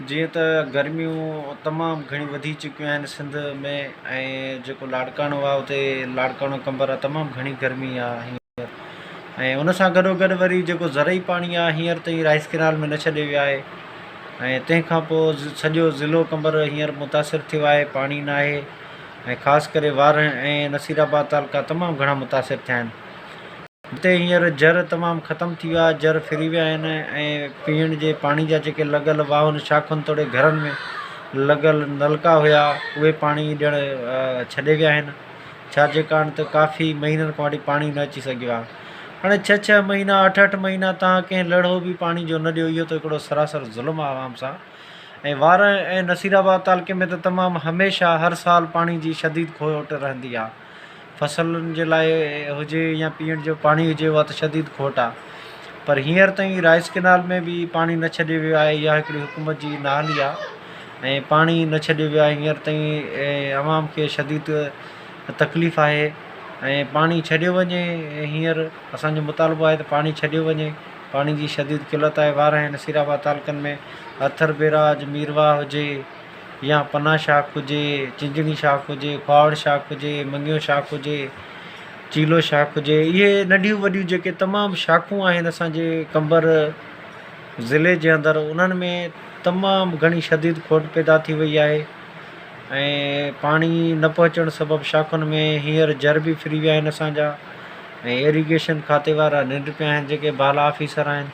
جيئن ته گرميون تمام گهڻيون وڌي چڪيون آهن سنڌ ۾ ۽ جيڪو لاڙڪاڻو آهي اتي لاڙڪاڻو قنبر آهي تمام گهڻي گرمي آهي هينئر ۽ ان سان گڏو گڏ وري جيڪو زرعي پاڻي آهي هينئر تائين رائيس ڪينال ۾ نه ڇڏيو ويو آهي ۽ تنهن کان پوء سڄو ضلعو قنبر هينئر متاثر ٿيو آهي پاڻي نه آهي ۽ خاص ڪري وارهه ۽ نصير آباد تعلقا تمام گهڻا متاثر ٿيا آهن هتي هينئر جر تمام ختم ٿي ويا، جر ڦري ويا آهن ۽ پيئڻ جي پاڻي جا جيڪي لڳل واهن، شاخن توڙي گهرن ۾ لڳل نلڪا هيا، اهي پاڻي ڏيڻ ڇڏي ويا آهن، ڇا جي ڪارڻ ته ڪافي مهينن کان وٺي پاڻي نه اچي سگهيو آهي. هاڻي ڇهه ڇهه مهينا، اٺ اٺ مهينا توهان ڪنهن لڙهو به پاڻي جو نه ڏيو، اهو ته هڪڙو سراسر ظلم آهي عوام سان ۽ وارهه ۽ نصيرآباد تعلقي ۾ ته تمام هميشه هر سال پاڻي جي شديد کوٽ رهندي آهي. فصلن جي لاء هجي يا پيئڻ جو پاڻي هجي اها ته شديد کوٽ آهي پر هينئر تائين رائيس ڪينال ۾ به پاڻي نه ڇڏيو ويو آهي اها هڪڙي حڪومت جي نااهلي آهي ۽ پاڻي نه ڇڏيو ويو آهي هينئر تائين عوام کي شديد تڪليف آهي ۽ پاڻي ڇڏيو وڃي هينئر اسانجو مطالبو آهي ته پاڻي ڇڏيو وڃي پاڻي جي شديد قلت آهي ٻاهر آهن نصير آباد تعلقن ۾ اٿر بئراج ميرواهه هجي يا پناهه شاخ هجي، چنجڻي شاخ هجي، کهاوڙ شاخ هجي، مڱيو شاخ هجي، چيلو شاخ هجي، اهي ننڍيون وڏيون جيڪي تمام شاخون آهن اسانجي قمبر ضلعي جي اندر انهن ۾ تمام گهڻي شديد کوٽ پيدا ٿي وئي آهي ۽ پاڻي نه پهچڻ سبب شاخن ۾ هينئر جر به ڦري ويا آهن اسانجا ۽ ايريگيشن کاتي وارا ننڊ پيا آهن جيڪي بالا آفيسر آهن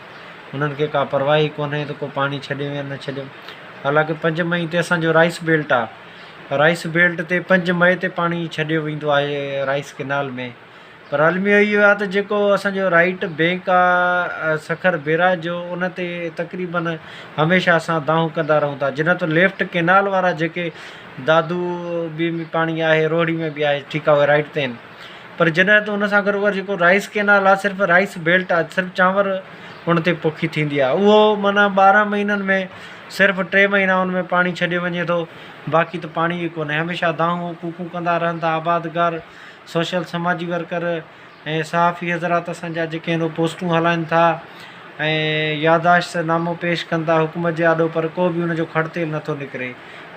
انهن کي ڪا پرواهي ڪونهي ته ڪو پاڻي ڇڏيو يا نه ڇڏيو حالانڪ پنج مئي تي اسان جو رائيس بيلٽ آ رائيس بيلٽ تي پنج مئي تي پاڻي ڇڏيو ويندو آهي رائيس ڪينال ۾ پر الميو اهو آ ته جيڪو اسان جو رائيٽ بينڪ آ سکر بيراج جو ان تي تقريبن هميشه اسان دانهون ڪندا رهون ٿا جنهن تو ليفٽ ڪينال وارا جيڪي دادو ٻي ۾ پاڻي آهي روهڙي ۾ به آهي ٺيڪا اهي رائيٽ تي آهن پر جڏهن ته ان سان گڏ اهو جيڪو رائيس ڪينال آهي صرف رائيس بيلٽ آهي صرف چانور ان تي پوکي ٿيندي آهي اهو معنيٰ ٻارهن مهينن ۾ صرف ٽي مهينا ان ۾ پاڻي ڇڏيو وڃي ٿو باقي ته پاڻي ئي ڪونهي هميشه دانهون ڪوڪون ڪندا رهن ٿا آبادگار سوشل سماجي ورڪر ۽ صحافي حضرات اسانجا جيڪي آهن اهو پوسٽون هلائن ٿا ۽ ياداشت نامو پيش ڪن ٿا حڪومت جي آڏو پر ڪو به ان جو کڙتيل نٿو نڪري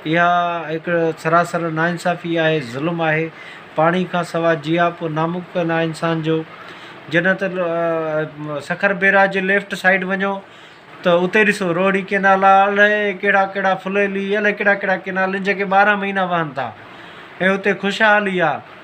اها هڪ سراسر ناانصافي آهي، ظلم آهي. پاڻي کان سواء جياپو ناممڪن آهي انسان جو. جڏهن ته سکر بيراج جي ليفٽ سائيڊ وڃو ته اتي ڏسو روهڙي ڪئنال آهي الائي ڪهڙا ڪهڙا ڦليلي الائي ڪهڙا ڪهڙا ڪئنال آهن جيڪي ٻارهن مهينا وهن ٿا ۽ اتي خوشحالي آهي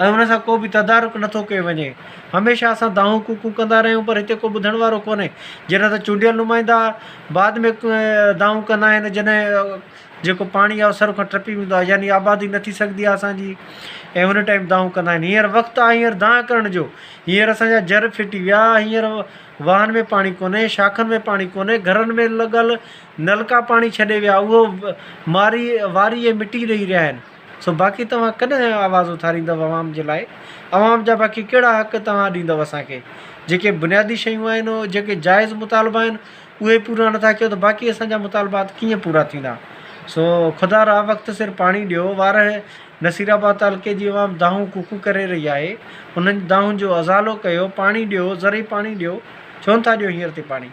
۽ ان سان ڪو به تدارڪ نه ٿو ڪيو وڃي. هميشه اسان دانهون ڪوڪون ڪندا رهيون پر هتي ڪو ٻڌڻ وارو ڪونهي. جڏهن ته چونڊيل نمائندا بعد ۾ دانهون ڪندا آهن جڏهن جيڪو پاڻي آهي اهو سر کان ٽپي ويندو آهي يعني آبادي نه ٿي سگهندي آهي اسان جي ۽ هن ٽائيم دانهون ڪندا آهن. هينئر وقت آهي هينئر دانهن ڪرڻ جو. هينئر اسان جا جر ڦٽي ويا هينئر واهن ۾ پاڻي ڪونهي شاخن ۾ پاڻي ڪونهي گهرن ۾ لڳل نلڪا پاڻي ڇڏي ويا اهو ماري واري ۽ مٽي ڏئي رهيا آهن. سو باقي توهان ڪڏهن آواز اٿاريندؤ عوام جي لاء؟ عوام جا باقي ڪهڙا حق توهان ڏيندؤ اسان کي؟ جيڪي بنيادي شيون آهن او جيڪي جائز مطالبا آهن اهي پورا نٿا ڪيو ته باقي اسان جا مطالبات ڪيئن پورا ٿيندا؟ سو خدا را وقت سر پاڻي ڏيو وارهه نصير آباد تعلقي جي عوام دانهون ڪوڪون ڪري رهي آهي انهن دانهون جو ازالو ڪيو پاڻي ڏيو ذري پاڻي ڏيو ڇو نٿا ڏيو هينئر تي پاڻي؟